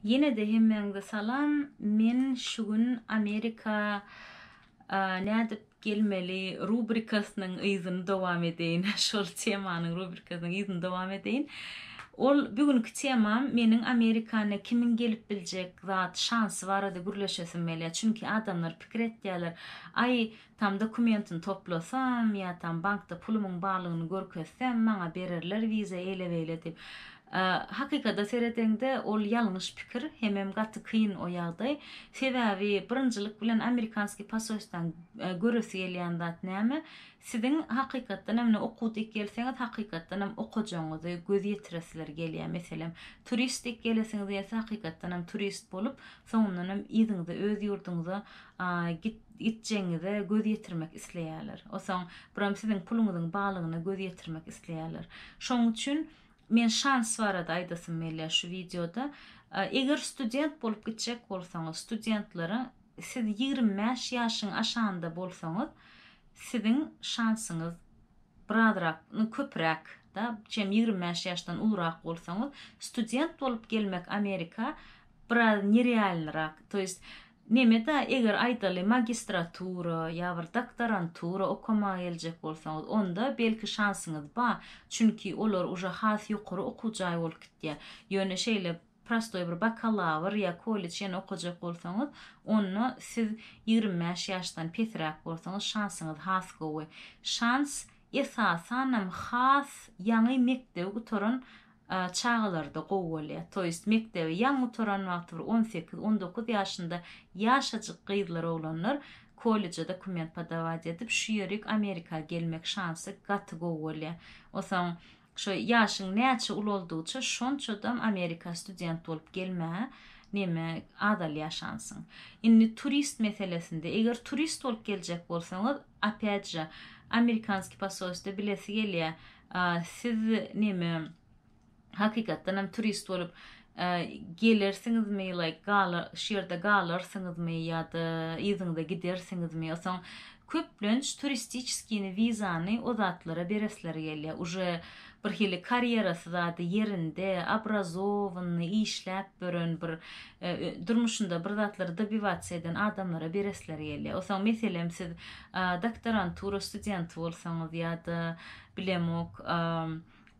Ýenede hemmäňize salam men şu gün Amerika nädip gelmeli rubrikasynyň yzyny dowam edeýin şol temanyň rubrikasynyň yzyny dowam edeýin ol bu günki temam meniň Amerikana kimiň gelip biljek zat şansy barada gürleşesim gelýär çünki adamlar pikir etýärler aý Tam dokumentini toplasam ýa tam bankda pulumyň barlygyny görkezsem maňa bererler wiza eýle beýle diýip. Hakykada seredeňde ol ýalňyş pikir hemem gaty kyn o ýagdaý. Sebäbi birinjilik bilen amerikanskiý pasoýstdan göresi gelýän zat näme? Siziň hakykatdan hem ine okuw dik gelseňiz hakykatdan hem okajagyňyzy göz ýetiresiler gelýär. Meselem turist dik gelesiňiz gelse hakykatdan hem turist bolup soňundan hem yzyňyza öz ýurduňyza git Gitjegiňize göz ýetirmek isleýärler. Osaň buram siziň puluňyzyň balygyna göz ýetirmek isleýärler. Şoň üçin men şans barada aýdasym gelýär şu wideoda. Eger student bolup gitjek bolsaňyz, studentlara siz ýigrimi bäş ýaşyň aşanda bolsaňyz, siziň şansyňyz birazrak, nu köpräk da, çem ýigrimi bäş ýaşdan ulurak bolsaňyz, student bolup gelmek Amerika biraz nerealnyrak to ýest nemeda eger aýdaly magistratura ýa bir doktorantura okamaga geljek bolsaňyz onda belki şansyňyz ba çünki olar uje has ýokary okuw jaý bolup gitýä ýöne şeýle prostoý bir bakalawr ýa kolleç ýene okajak bolsaňyz onda siz ýigrimi bäş ýaşdan pesräk bolsaňyz şansyňyz has gowy şans esasanam has ýaňy mekdebi gutaran çagalarda gowy bolýar. To ýest mekdebe ýaňy gutaran wagty bir on sekiz, on dokuz ýaşynda ýaşajyk gyzlar oglanlar kolleje dokument podawaýt edip şu ýerik Amerika gelmek şansy gaty gowy bolýar. Osaň şo ýaşyň näçe ulaldygyça şonçadam Amerika student bolup gelmä neme azalýar şansyň. Indi turist meselesinde eger turist bolup geljek bolsaňyz, Opet же amerikanskiý posolstwo bilesi gelýä siz neme hakykatdan hem turist bolup gelersiňizmi like galar şu ýerde galarsyňyzmy ýada yzyňyza gidersiňizmi osaň köplenç turistiçeskiýni wizany o zatlara beresleri gelýä uje bir hili karýerasy zady ýerinde, obrazowanny işläp bören bir durmuşynda bir zatlary dobivasiýa eden adamlara beresleri gelýär. Osaň meselem siz doktorantura studenty bolsaňyz ýa-da bilemok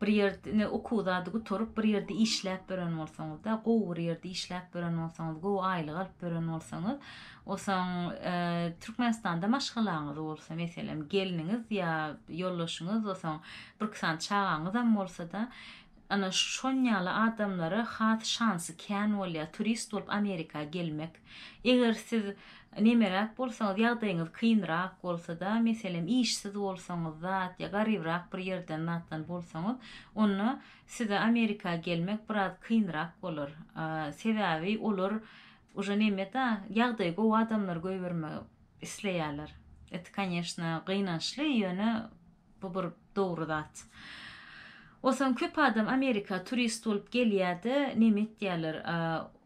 bir ýerde okuw zady gutaryp bir ýerde işläp bören bolsaňyzda gowy bir ýerde işläp bören bolsaňyz gowy aýlyk alyp bören bolsaňyz Onsoň Türkmenistanda maşgalaňyz bolsa, meselem, gelniňiz ýa ýoldaşyňyz, onsoň birki sany çagaňyzam bolsa-da, ana, şonýaly adamlara has şansy kän bolýar turist bolup Amerika gelmek. Eger siz nemeräk bolsaňyz, ýagdaýyňyz kynrak bolsa-da, meselem, işsiz bolsaňyz zat ýa garybrak bir ýerden zatdan bolsaňyz, onda size Amerika gelmek biraz kynrak bolar. Sebäbi olar Uje nemeda ýagdaýy gowy adamlar goýbermek isleýärler. It kanyeshna gynançly ýöne bu bir dogry zat. Osaň köp adam amerika turist bolup gelýärde neme etýärler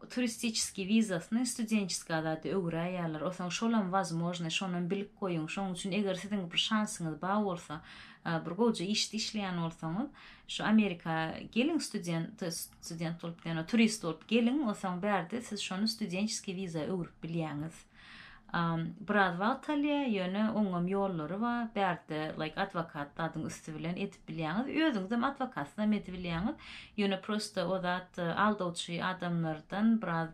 turistiçeskiý wizasyny studençeska zada öwüräýýärler osaň şolam wazmožny şonam bilip goýuň şoň üçin eger siziň bir şansyňyz ba bolsa bir gowja işde işleýän bolsaňyz Şu Amerika geliň student student bolup ýa-da turist bolup geliň, onsoň bärde siz şony studençeskiý wiza öwrüp bilýäňiz. Biraz wagt alýar, ýöne oňam ýollary bar. Bärde like adwokat zadyň üsti bilen edip bilýäňiz. Özüňizem adwokatynam edibilýäňiz. Ýöne prosta o zat aldawçy adamlardan biraz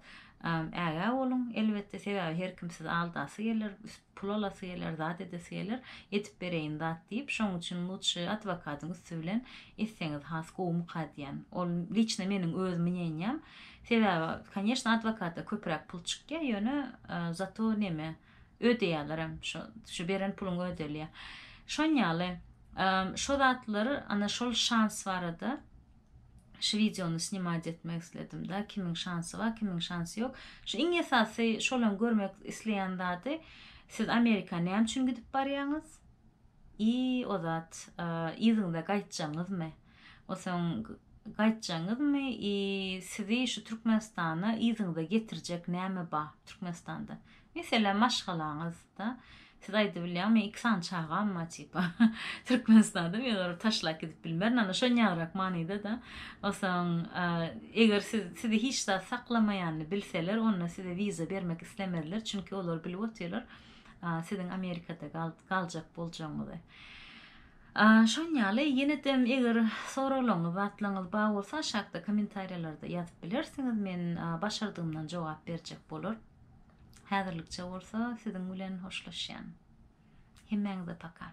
ägä boluň. Elbetde sebäbi her kim sizi aldasy geler. Pul alasy geler, zat edesi geler, edip bereýin zat diýip, şoň üçin lutşy adwokadyň üsti bilen etseňiz has gowumyka diýýän. Ol liçno meniň öz mneniýam. Sebäbi, konýeşno, adwokata köpräk pul çykýa, ýöne zato neme, ödeýälerem, şo, şu beren puluň ödelýä. Şon ýaly, şo zatlar, ana şol şans barada, Şu wideony snimat etmek isledim da kimiň şansy bar kimiň şansy ýok. Şu iň esasy şolam görmek isleýän zady siz Amerika näme üçin gidip barýaňyz? I o zat yzyňyza gaýtjaňyzmy? Osaň gaýtjaňyzmy i sizi şu Türkmenistana yzyňyza getirjek näme bar Türkmenistanda? Meselem maşgalaňyz. wagtda siz aýdyp bilýäňmi iki sany çagam bar tipa Türkmenistanda men olary taşlap gidip bilmerin ana şo ýagrak manyda da osaň eger siz sizi hiç zat saklamaýanyny bilseler onda size wiza bermek islemezler çünki olar bilip otyrlar siziň Amerikada galjak boljagyňyzy. Şoň ýaly ýene-de eger soraglaryňyz, zatlaryňyz bar bolsa aşakda kommentariýalarda ýazyp bilersiňiz. Men başardygymdan jogap berjek bolar. Häzirlikçe bolsa siziň bilen hoşlaşýan. Hemmäňize paka.